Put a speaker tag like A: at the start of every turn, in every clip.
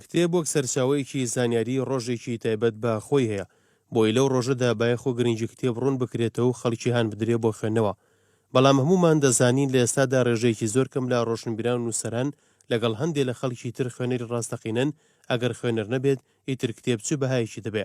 A: کتێب وەک سەرچاوەیەکی زانیاری ڕۆژێکی تایبەت بە خۆی هەیە، بۆیە لەو ڕۆژەدا بایەخو گرنگی کتێب ڕوون بکرێتەوەو خەڵکی هانبدرێ بۆ خوێندنەوە، بەڵام هەموومان دەزانین لە ئێستادا ڕێژەیەکی زۆر کەم لە ڕۆشنبیران و نووسەران لەگەڵ هەندێ لە خەڵکی تر خوێنەری ڕاستەقینەن، ئەگەر خوێنەر نەبێت ئیتر کتێب چ بەهایەکی دەبێ؟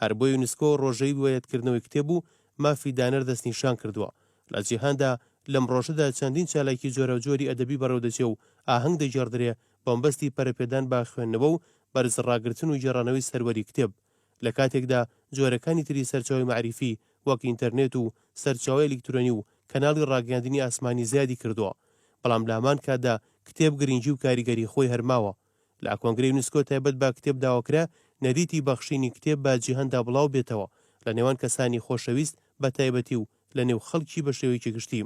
A: هەر بۆ یونسکۆ ڕۆژەی روایەتکردنەوەی کتێب و مافی دانەر دەستنیشان کردووە. لە جیهاندا لەم ڕۆژەدا چەندین چالاکی جۆراوجۆری ئەدەبی بەڕێوەدەچێ و ئاهەنگ دەگێڕدرێ بەمەبەستی پەرەپێدان بە خوێندنەوە و بەرزڕاگرتن و گێڕانەوەی سەروەری کتێب لە کاتێکدا جۆرەکانی تری سەرچاوەی مەعریفی وەک ئینتەرنێت و سەرچاوە ئەلیکترۆنی و کەناڵی ڕاگەیاندنی ئاسمانی زیادی کردووە بەڵام لە هەمان کاتدا کتێب گرینگی و کاریگەری خۆی هەر ماوە. لە کۆنگرە یونسکۆ تایبەت بە کتێب داواکرا نەریتی بەخشینی کتێب بە جیهاندا بڵاو بێتەوە لە نێوان کەسانی خۆشەویست بە تایبەتی و لە نێو خەڵکی بە شێوەیەکی گشتی.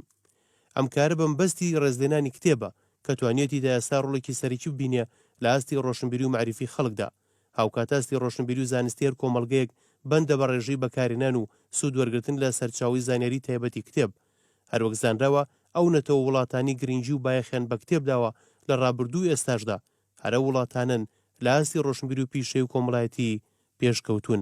A: ئەم کارە بە مبەستی ڕێزلێنانی کتێبە کە توانیوێتی تا ئێستا ڕۆڵێکی سەرەکی ببینێ لە ئاستی ڕۆشنبیری و مەعریفی خەڵکدا. هاوکات ئاستی ڕۆشنبیری و زانستی هەر کۆمەڵگەیەک بەندە بە ڕێژەی بەکارهێنان و سوود وەرگرتن لە سەرچاوەی زانیاری تایبەتی کتێب. هەروەک زانراوە ئەو نەتەوە وڵاتانی گرنگی و بایەخیان بە کتێب داوە لە ڕابردوو و ئێستاشدا هەر ئەو وڵاتانەن لە ئاستی ڕۆشنبیری و پیشەی و کۆمەڵایەتی پێشکەوتوون.